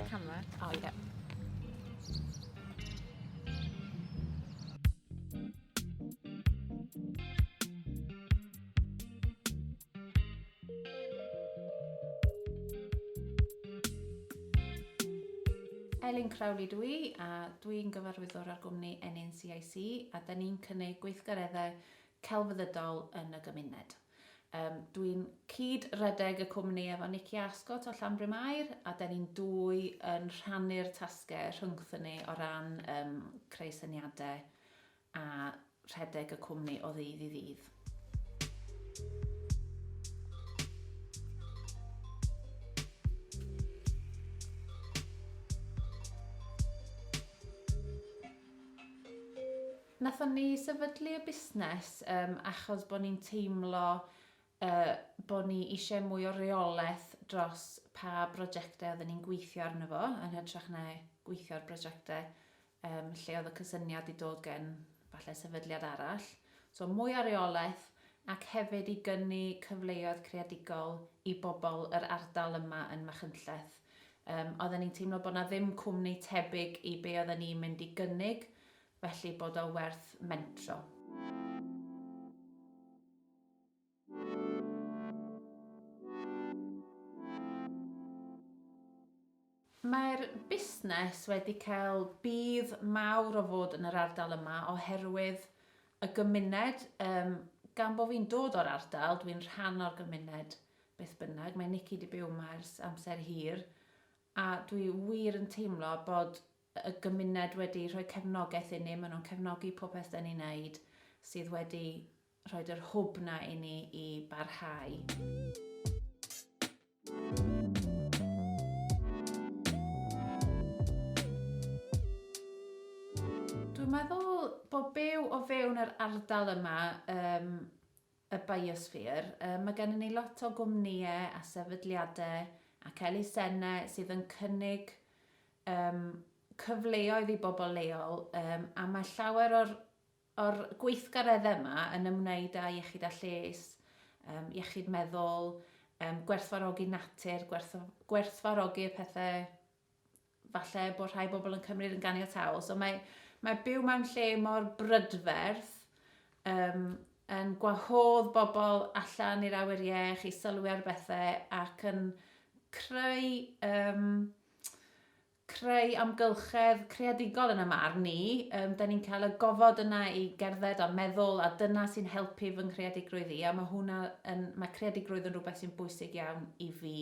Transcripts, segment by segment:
camera. Oh, yeah. Elin Crowley dw i a dwi'n gyfarwyddwr ar gwmni NNCIC a da ni'n cynnig gweithgareddau celfyddydol yn y gymuned. Yym, dw i'n cyd-redeg y cwmni efo Nicky Ascot o Llanbrym Aur, a da ni'n dwy yn rhannu'r tasge rhyngthyn ni o ran yym creu syniade a rhedeg y cwmni o ddydd i ddydd. Nathon ni sefydlu y busnes yym achos bo ni'n teimlo yy bo ni isie mwy o reoleth dros pa brojecte odden ni'n gweithio arno fo yn hytrach na gweithio ar brojecte yym lle oedd y cysyniad di dod gen falle sefydliad arall. So mwy o reoleth ac hefyd i gynnu cyfleoedd creadigol i bobol yr ardal yma yn Machynlleth. Yym odden ni'n teimlo bo na ddim cwmni tebyg i be odden ni'n mynd i gynnig felly bod o werth mentro. Mae'r busnes wedi cael budd mawr o fod yn yr ardal yma oherwydd y gymuned, yym, gan bo' fi'n dod o'r ardal, dwi'n rhan o'r gymuned beth bynnag, mae Nikki 'di byw 'ma ers amser hir, a dwi wir yn teimlo bod y gymuned wedi rhoi cefnogaeth i ni, maen nhw'n cefnogi popeth dan ni'n neud sydd wedi rhoid yr hwb na i ni i barhau. Dwi'n meddwl bod byw o fewn yr ardal yma, um, y biosphere. Mae gennym ni lot o gwmnïau a sefydliadau ac elusennau sydd yn cynnig um, cyfleoedd i bobl leol um, a mae llawer o'r, or gweithgareddau yma yn ymwneud â iechyd a lles, um, iechyd meddwl, um, gwerthfarogi natur, gwerth, gwerthfarogi'r pethau falle bod rhai bobl yn cymryd yn ganiataol. So mae, mae byw mewn lle mor brydferth um, yn gwahodd bobl allan i'r awyr iech i sylwi ar bethau ac yn creu, um, creu amgylchedd creadigol yn y marn ni. Um, da ni'n cael y gofod yna i gerdded a meddwl a dyna sy'n helpu fy nghreadigrwydd i a mae hwnna yn, mae creadigrwydd yn rhywbeth sy'n bwysig iawn i fi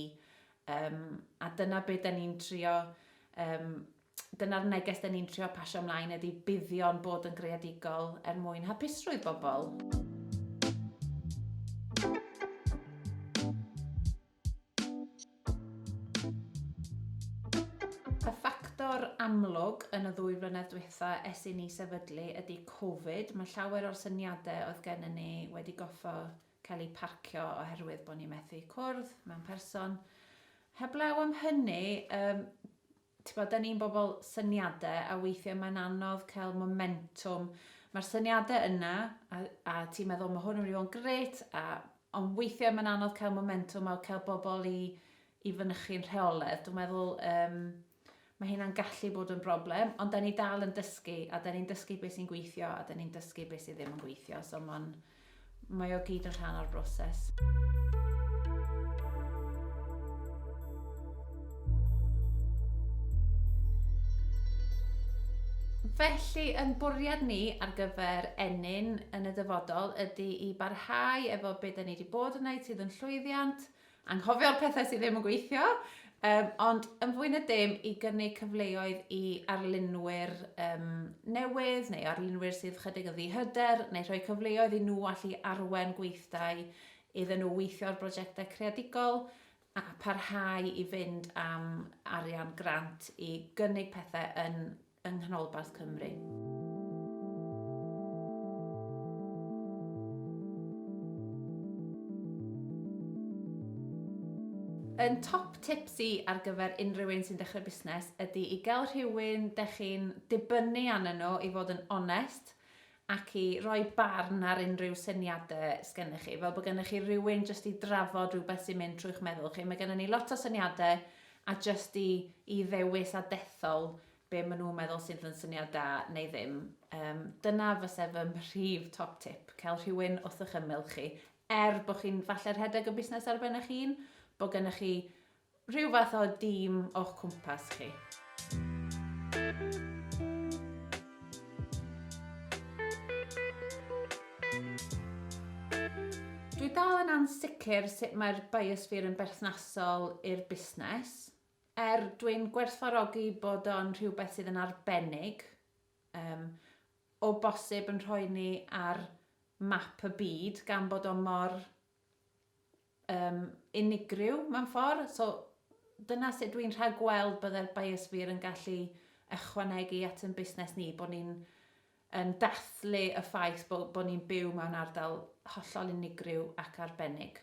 Yym, a dyna be da ni'n trio, yym, dyna'r neges da ni'n trio pasio ymlaen ydy buddion bod yn greadigol er mwyn hapusrwydd bobl. Y ffactor amlwg yn y ddwy flynedd dwytha es i ni sefydlu ydy Covid. Mae llawer o'r syniadau oedd gennym ni wedi goffa cael eu parcio oherwydd bod ni methu cwrdd mewn person. Heblaw am hynny, um, ti'n bod, da ni'n bobl syniadau a weithiau mae'n anodd cael momentum. Mae'r syniadau yna a, a ti'n meddwl mae hwn yn mynd i fod yn gret, a, ond weithiau mae'n anodd cael momentum a cael bobl i, i fynychu'n rheoledd. Dwi'n meddwl um, Mae hynna'n gallu bod yn broblem, ond 'da ni dal yn dysgu, a 'da ni'n dysgu beth sy'n gweithio, a 'da ni'n dysgu beth sydd ddim yn gweithio, so mae'n... mae o gyd yn rhan o'r broses. Felly, yn bwriad ni ar gyfer Ennyn yn y dyfodol ydy i barhau efo be 'da ni 'di bod yn neud sydd yn llwyddiant, Anghofio'r pethau sydd ddim yn gweithio, um, ond yn fwy na dim i gynnig cyfleoedd i arlunwyr um, newydd neu arlunwyr sydd chydig yn ddihyder neu rhoi cyfleoedd i nhw allu arwen gweithdai iddyn nhw weithio ar brosiectau creadigol a parhau i fynd am arian grant i gynnig pethau yn yng Nghanolbarth Cymru. Un top tips i ar gyfer unrhyw un sy'n dechrau busnes ydy i gael rhywun dych chi'n dibynnu arnyn nhw i fod yn onest ac i roi barn ar unrhyw syniadau sgennych chi, fel bod gennych chi rywun jyst i drafod rhywbeth sy'n mynd trwy'ch meddwl chi. Mae gennym ni lot o syniadau a jyst i, i ddewis a dethol be maen nhw'n meddwl sydd yn syniad da neu ddim. Um, dyna fyse fy mhrif top tip, cael rhywun wrth eich ymyl chi. Er bod chi'n falle rhedeg y busnes ar ben eich hun, bod gennych chi rhyw fath o dîm o'ch cwmpas chi. Dwi dal yn ansicr sut mae'r biosphere yn berthnasol i'r busnes. Er, dwi'n gwerthfawrogi bod o'n rhywbeth sydd yn arbennig, um, o bosib yn rhoi ni ar map y byd gan bod o mor um, unigryw mewn ffordd. So, dyna sut dwi'n rhag gweld bydde'r biosphere yn gallu ychwanegu at yn busnes ni, bod ni'n yn dathlu y ffaith bod, bod ni'n byw mewn ardal hollol unigryw ac arbennig.